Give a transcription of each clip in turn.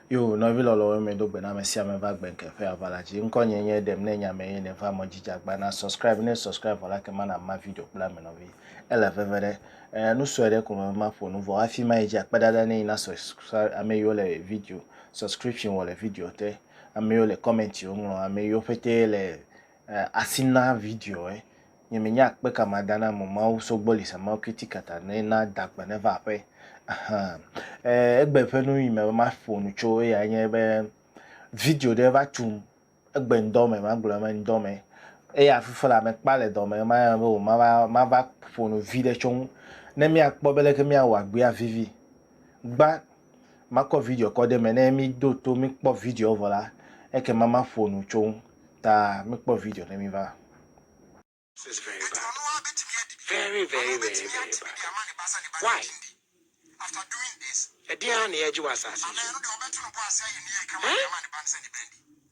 Yo nɔvi lɔlɔ̃wo me do gbe na ame sia ame va gbe nke ƒe aʋala dzi. Ŋkɔ nye nye ɖem ne nya me ye ne va mɔ jija gba na subscribe ne subscribe vɔ la ke mana ma video kple ame nɔvi. Ele veve ɖe. Eh, nu sue ɖe ko me ma ƒo nu vɔ hafi ma yi dzi akpe ɖaɖa ne yi na subscribe ame yiwo le video subscription wɔ le video te. Ame yiwo le comment yiwo ŋlɔ ame yiwo ƒete le eh, asi na video eh. nye me nya akpe ka ma da na mo ma wo so gbɔ li sa ma kiti kata ne na da kpe ne va aƒe ahan eh egbe ƒe nu yi me ma ƒo nu tso ya nye be video ɖe va tum egbe ŋdɔ me ma gblɔ me ŋdɔ me eya fufu la me kpa le dɔ me ma ya be o ma va ma va ƒo nu vi ɖe tso ŋu ne mia kpɔ be leke mia wa gbea vivi gba Makɔ video kɔ ɖe eme, ne mído to míkpɔ videoa vɔ la, ekema maƒo nu tso eŋu. Ta míkpɔ video ne míva.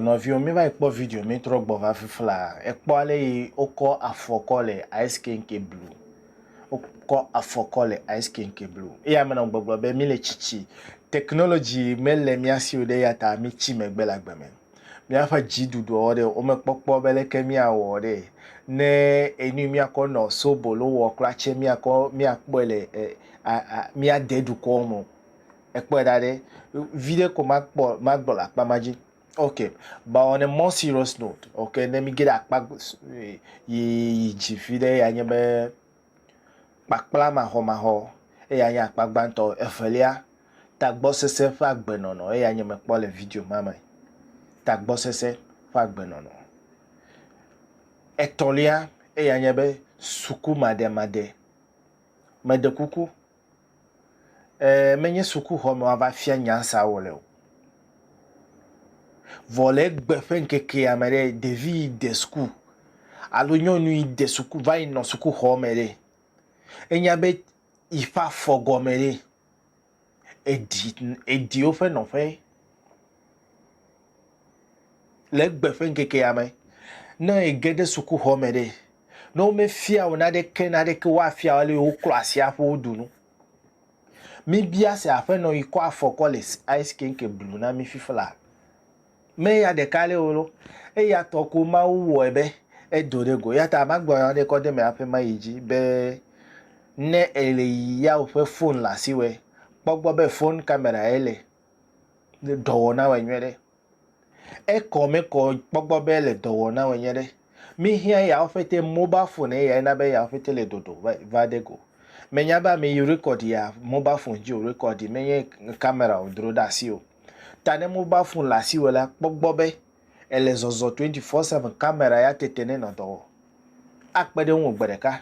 Nɔviwo mi va yi kpɔ video mi trɔ gbɔ va fifla ekpɔ ale yi wokɔ afɔ kɔ le ice kenke blu wokɔ afɔ kɔ le ice kenke blu eya ame nɔ gbɔgblɔ be mi le tsitsi technology mele mia si o ɖe eya ta mi tsi megbe le agbe me. Míaƒe dziɖuɖuɔ ɖe, womekpɔkpɔ be leke míawɔ ɖe. Ne enu yi míakɔ nɔ sobolo wɔ kura tse, míakɔ míakpɔe le e a a míade dukɔ me o. Èkpɔe ɖa ɖe. Viɖe ko makpɔ magblɔ le akpa ma dzi. Ok. But on a more serious note, ok, ne míge ɖe akpa yi yi dzi viɖe ya nye be kpakpla maxɔmaxɔ, eyae nye akpa gbãtɔ. Evelia, tagbɔsese ƒe agbenɔnɔ, eyae nye mekpɔ le video ma me, tagbɔsese ƒe agbenɔnɔ. Etɔ̃lia, eyae nye be suku maɖemaɖe. Meɖe kuku, Ee, menye sukuxɔ me woava fia nya sia wò le o. Vɔ le egbe ƒe ŋkekea me ɖe, ɖevi yi de suku alo nyɔnu yi de suku va yi nɔ sukuxɔ me ɖe, enya be yi ƒe afɔ gɔme ɖe, eɖi eɖi woƒe nɔƒe. le egbe ƒe ŋkekea me. Ne ege ɖe sukuxɔ me ɖe, ne womefia wò naneke naneke woafia wò ale woklɔ asi aƒu wodu nu. Mibia se aƒenɔ yi kɔ afɔ kɔ le ice kenke blu na mi fifla. Me ya ɖeka ale wò lo, eya tɔ ko Mawu wɔe be edo ɖe go. Eya ta magblɔ nya ɖe kɔ de me aƒe ma yi dzi be ne èle yi ya woƒe fon le asiwɔe, kpɔ gbɔ be fon kamera ye le. dɔwɔna wɔ nyuie ɖe. Ekɔ me kɔ kpɔgbɔ be le dɔwɔna wɔ nyuie ɖe. Mi hiã ya ofete mobile phone eya ena be ya ofete le dodo va va de go. Me nya be ame yi record ya mobile phone dzi o record me nye camera o dro ɖe asi o. Ta ne mobile phone le asi wɔ la kpɔgbɔ be ele zɔzɔ twenty four seven camera ya tete ne nɔ dɔ wɔ. Akpe ɖe ŋuwò gbe ɖeka.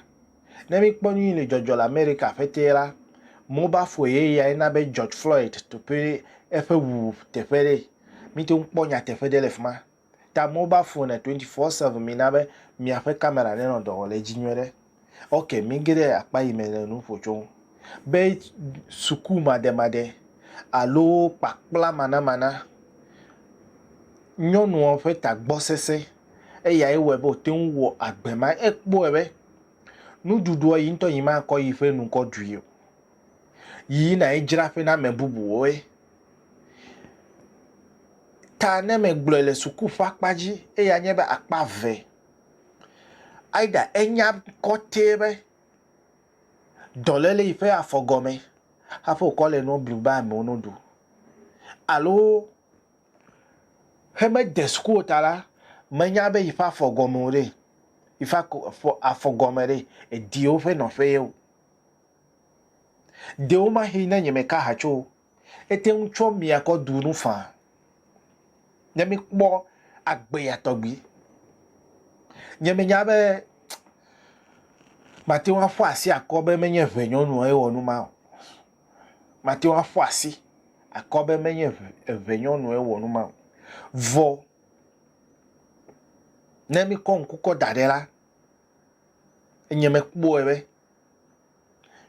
Ne míkpɔ nu yi le dzɔdzɔ le Amerika ƒetee la, mobile phone ye yae na be George Floyd teƒe eƒe wuwu teƒe ɖe. Míte ŋu kpɔ nyateƒe ɖe le fi ma. Ta mobile phone le twenty four seven mina be miaƒe kamera nenɔ dɔ wɔm le edzi nyuie ɖe. Ok, míge ɖe akpa yi me le nu ƒo tso ŋu be sukumademade alo kpakplamanamana. Nyɔnua ƒe tagbɔ sesẽ eyae wɔe be wòte ŋu wɔ agbe ma. Ekpɔe be Nuɖuɖuɔ yi ŋtɔ yi ma kɔ yi ƒe nu kɔ ɖui o. Yi yi na yi dzra ƒe na me bubu woe. Ta ne me gblɔe le suku ƒe akpa dzi eya nye be akpa ve. Aida enya kɔte be dɔlele yi ƒe afɔ gɔme hafi wokɔ le nua blu be amewo no ɖu. Alo He mede suku o ta la, menya be yi ƒe afɔ gɔme o ɖe, yi ƒe afɔ afɔ gɔme ɖe, edi yewo ƒe nɔƒe ye o. Ɖewomahĩ ne nye meka ha tso o, ete ŋu tsɔ mia kɔ ɖu nu faa, ne mikpɔ agbe ya tɔgbi. Nye menya be mate ŋu aƒo asi akɔ be menye ʋɛ nyɔnua ye wɔ nu ma o. mate ŋu aƒu asi akɔ be menye eve evenyɔnue wɔ nu ma o. Vɔ ne míkɔ ŋku kɔ da ɖi la, enye mekpɔe be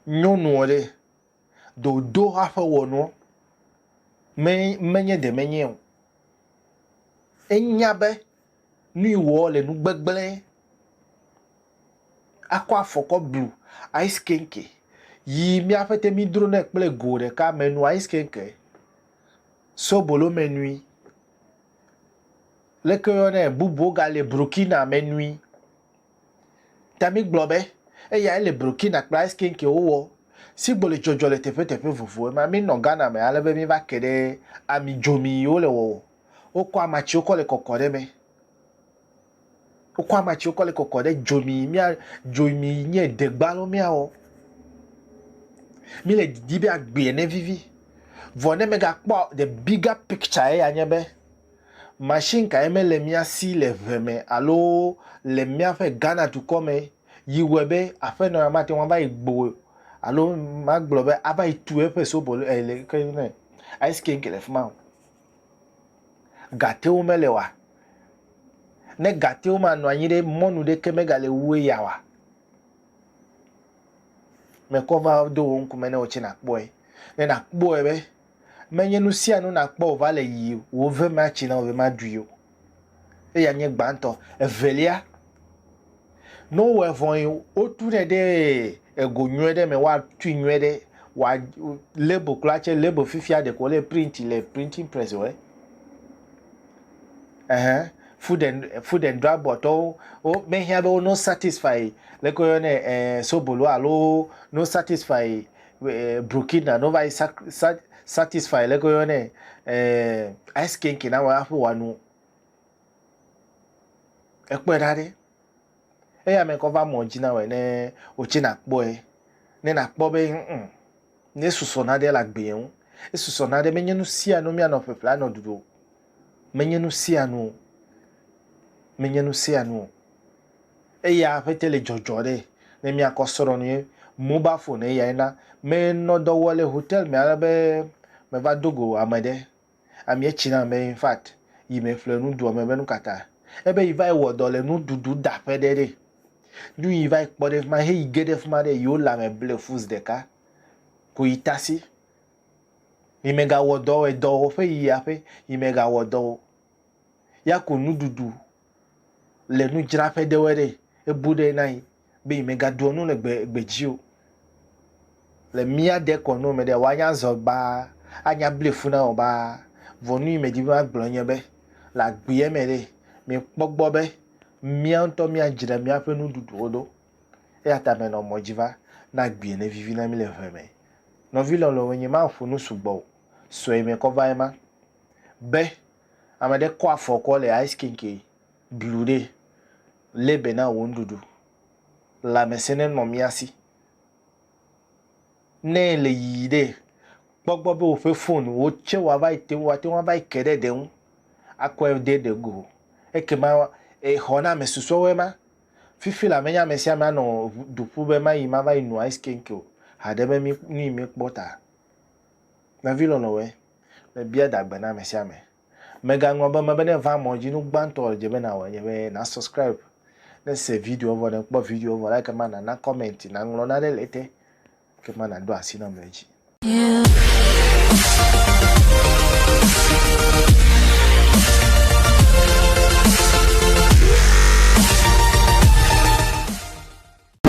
nyɔnua ɖe ɖe wòdo eƒe wɔnuwo me menye ɖe menyɛ o. Enya be. Nui wɔ le nu gbegblẽ. Akɔ afɔ kɔ blu ice kenke yi miaƒe te mi dro nɛ kple go ɖeka me nu ice kenke sobolo me nui leke yɔ nɛ bubuwo ga le brokina me nui ta mi gblɔ be eya ele brokina kple ice kenke wo wɔ sigbo le dzɔdzɔ le teƒe teƒe vovo ema mi nɔ ghana me ale be mi va ke ɖe ami dzomi yi wo le wɔwɔ Wokɔ amatsiwo kɔ le kɔkɔ ɖe eme. Wokɔ amatsiwo kɔ le kɔkɔ ɖe dzomi mía dzomi nye degba lo míawɔ. Mi le didi be agbea ne vivi. Vɔ ne megakpɔ the bigger picture ya nye be machine kae mele mía si le ʋe me alo le míaƒe Ghana dukɔ me yi wɔe be aƒenɔ ya mate ŋu ava yi gbo alo magblɔ be ava yi tu eƒe sobolo ele ke ne ice kink le fi ma o. Gatewo mele oa? Ne gatewo manɔ anyi ɖe, mɔnu ɖeke megale wu eya oa? Mekɔ va do wò ŋkume ne wò tsɛ nàkpɔe, ne nàkpɔe be menye nu sia nu nàkpɔ wòva le yiyim o, wò ve matsi na wò ve maɖui o. Eya nye gbãtɔ. Evelia, ne wowɔe vɔe, wotunɛ ɖe ego nyuie ɖe me, woatui nyuie ɖe, wa label kura tsɛ, label fifia ɖeko wole printi le printing press wɔe. Ɛhɛn, food and food and drug boardtɔwo womehiã be wo no satisfy leke woyɔnɛ ɛɛ sobolo alo no satisfy eh, Burkina no va yi satisfy le koyo ne eh, ice kenke na wa aƒe wa nu ekpɔe ɖa ɖe eya me kɔ va mɔ dzi na wɔ ne wotsi na kpɔe ne na kpɔ be mm ne susɔ na ɖe la gbea ŋu esusɔ na ɖe menye nu sia nu mianɔ ƒeƒle anɔ ɖuɖu menye nu sia nu menye nu sia nu Eya ƒete le dzɔdzɔ ɖe. Ne mia kɔ srɔ nu ye mobile phone eyae na. Me nɔ dɔ wɔ le hotel me ale be me va do go ame ɖe. Amie tsi nam be infact yi me ƒle nu doa me be nukata. Ebe yi va yi wɔ dɔ le nu ɖuɖu da ƒe ɖe ɖe. Nu yi va yi kpɔ ɖe fima he yi ge ɖe fima ɖe yi wo le ame ble fuz ɖeka ko yi tasi. Yi me ga wɔ dɔ edɔ wɔ ƒe yi aƒe yi me ga wɔ dɔ o. Ya ku nu ɖuɖu. le nudzraƒe ɖewɔe ɖe ebu ɖe na yi be yi me gaɖuɔ nu le gbe gbe dzi o. Le mía ɖe kɔ nu me ɖe wa nya zɔ baa a nya ble fu na wɔ baa. Vɔ nu yi me di be ma gblɔ nye be le agbeɛ me ɖe mi kpɔ gbɔ be mía ŋutɔ mía dzra mía ƒe nuɖuɖuwo ɖo. Eya ta me nɔ mɔ dzi va ne agbeɛ ne vivi na mi le ʋe me. Nɔvi lɔlɔ̃ wo nye ma ƒo nu sugbɔ o sɔe me kɔ va ema be. Ame ɖe kɔ afɔ kɔ le ice kinki blu ɖe lé be na wò nuɖuɖu. Lãmesẽ ne nɔ mía si. Ne le yiyi ɖe, kpɔ gbɔ be woƒe fon wo tse wa va yi te wa te wa va yi ke ɖe ɖe ŋu akɔe de ɖe go. Ekema exɔ na ame susɔewoe ma. Fifi la menye ame sia ame anɔ ŋu du ƒu be mayi ma va yi no ice kinki o haɖe be mi nu yi mi kpɔ ta. Nɔvi lɔlɔ̃woe. Mebia da gbe na ame sia ame. Mègaŋlɔ be mebe ne èva mɔ dzi, nu gbãtɔ wòdze be nàwɔe nye be nàsɔscribe, ne èse videoa vɔ, ne èkpɔ videoa vɔ la, ekema nàna kɔmɛnti, nàŋlɔ nane le ete, ekema nàɖo asi nam le edzi.